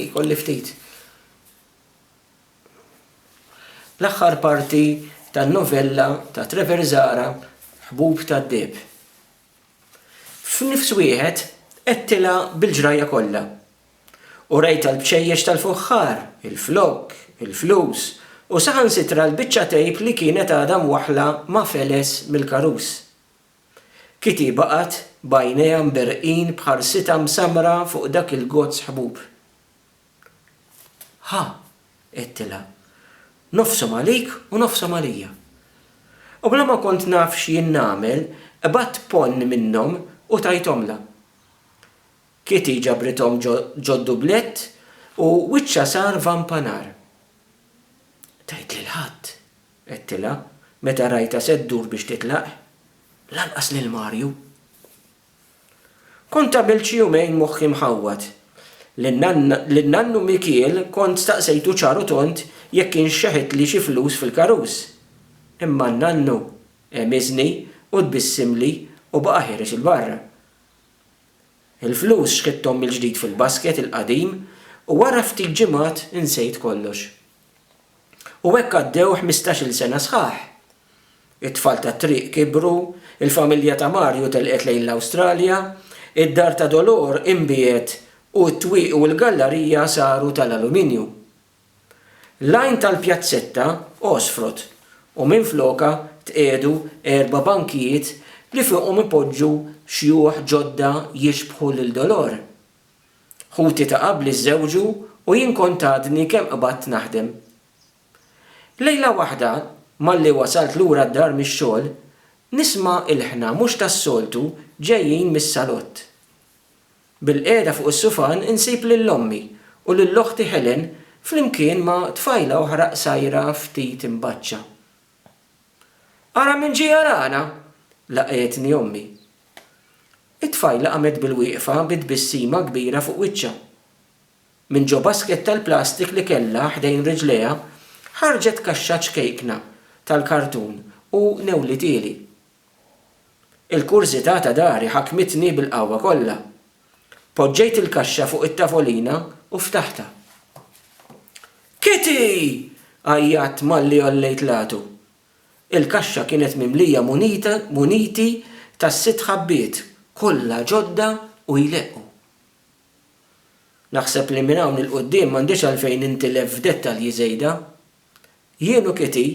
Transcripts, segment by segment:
Jkolli ftit. L-aħħar parti tan-novella ta' Trevor Zahra Ħbub tad-Deheb. F'nifs wieħed għedtilha bil-ġrajja kollha. U rajtha l-bċejjeċ tal-fuħħar, il-flokk, il-flus, u saħansitra l-biċċa tejp li kienet għadha mwaħħla ma' feles mill-karus. Kitty baqgħet b'għajnejha mberrqin b'ħarsitha msammra fuq dak il-gozz ħbub. Ħa, għedtilha, nofshom għalik u nofshom għalija. U bla ma kont naf x'jien nagħmel, qbadt ponn minnhom u tajthomlha. Kitty ġabrithom ġod-dublett u wiċċha sar vampa nar. Tgħid lil ħadd, Għedtilha, meta rajtha se ddur biex titlaq, Lanqas lil Mario! Kont għamilt xi jumejn moħħi mħawwad. Lil nannu Mikiel kont staqsejtu ċar u tond jekk kienx xeħitli xi flus fil-karus. Imma n-nannu għemiżni u tbissimli u baqa' ħiereġ 'il barra. Il-flus xħitthom mill-ġdid fil-basket il-qadim u wara ftit ġimgħat insejt kollox. U hekk għaddew ħmistax-il sena sħaħ. It-tfal tat-triq kibru, il-familja ta' Mario telqet lejn l-Awstralja, id-dar ta' Dolor inbiegħet u t-twieqi u l-gallarija saru tal-aluminju. L-għajn tal-pjazzetta għosfrot u minflokha tqiegħdu erba' bankijiet li fuqhom ipoġġu xjuħ ġodda jixbħu lil Dolor. Ħuti ta' qabli żżewġu u jien kont għadni kemm qbadt naħdem. Lejla waħda, malli wasalt lura d-dar mix-xogħol, nisma' ilħna mhux tas-soltu ġejjin mis-salott. Bilqiegħda fuq is-sufan insib lil ommi u lil oħti Helen flimkien ma' tfajla oħra qsajra ftit imbaċċa. Ara min ġie jarana! laqgħetni ommi. It-tfajla qamet bilwieqfa bi tbissima kbira fuq wiċċha. Minn ġo basket tal-plastik li kellha ħdejn riġlejha ħarġet kaxxa ċkejkna tal-kartun u newlitieli. Il-kurżità ta' dari ħakmitni bil-qawwa kollha. Poġġejt il-kaxxa fuq it-tavolina u ftaħtha. Kitty! għajjatt malli għollejt l-għatu. Il-kaxxa kienet mimlija munita, muniti tas-sitt ħabbiet, kollha ġodda u jleqqu. Naħseb li minn hawn 'il quddiem m'għandix għalfejn nintilef f'dettalji żejda, Jien u Kitty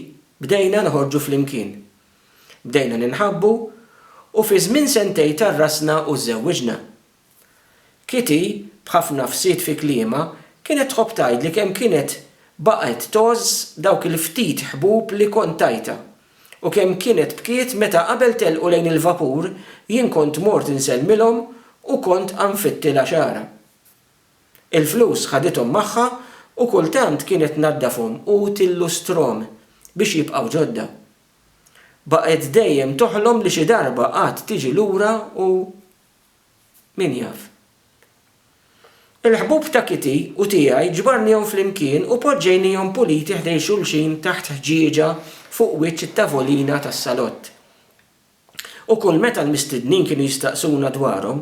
bdejna noħorġu flimkien. Bdejna ninħabbu u fi żmien sentejn tgħarrasna u żżewwiġna. Kitty b'ħafna fsid fi kliemha kienet tħobb tgħidli kemm kienet baqgħet tgħożż dawk il-ftit ħbub li kont tajtha u kemm kienet bkiet meta qabel telqu lejn il-vapur jien kont mort insellmilhom u kont għanfittilha xagħarha. Il-flus ħadithom magħha u kultant kienet tnaddafhom u tillustrhom biex jibqgħu ġodda. Baqgħet dejjem toħlom li xi darba għad tiġi lura u min jaf. Il-ħbub ta' Kitty u tiegħi ġbarnihom flimkien u poġġejniehom puliti ħdejn xulxin taħt ħġieġa fuq wiċċ it-tavolina tas-salott. Ukoll meta l-mistednin kienu jistaqsuna dwarhom,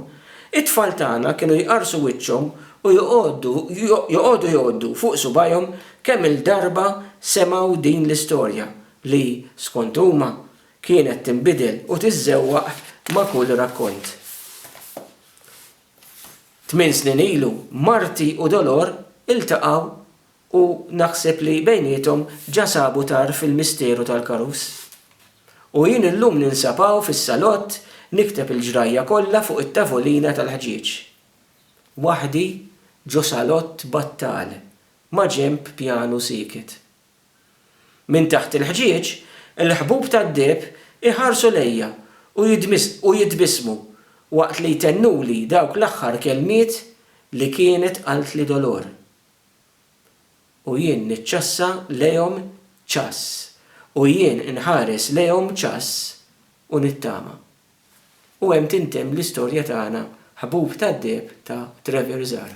it-tfal tagħna kienu jqarrsu wiċċhom u joqogħdu joqogħdu jgħoddu fuq subgħajhom kemm-il darba semgħu din l-istorja li, skont huma, kienet tinbidel u tiżżewwaq ma' kull rakkont. Tmien snin ilu, Marti u Dolor iltaqgħu U naħseb li bejniethom ġa sabu tarf il-misteru tal-karus. U jien illum ninsab hawn fis-salott nikteb il-ġrajja kollha fuq it-tavolina tal-ħġieġ. Waħdi ġo salott battal maġenb pjanu sieket. Minn taħt il-ħġieġ, il-ħbub tad-deheb iħarsu lejja u jitbissmu waqt li jtennuli dawk l-aħħar kelmiet li kienet qaltli Dolor. U jien niċċassa lejhom ċass, u jien inħares lejhom ċass u nittama. U hemm tintemm l-istorja tagħna ħbub tad-deheb ta' Trevor Zarr.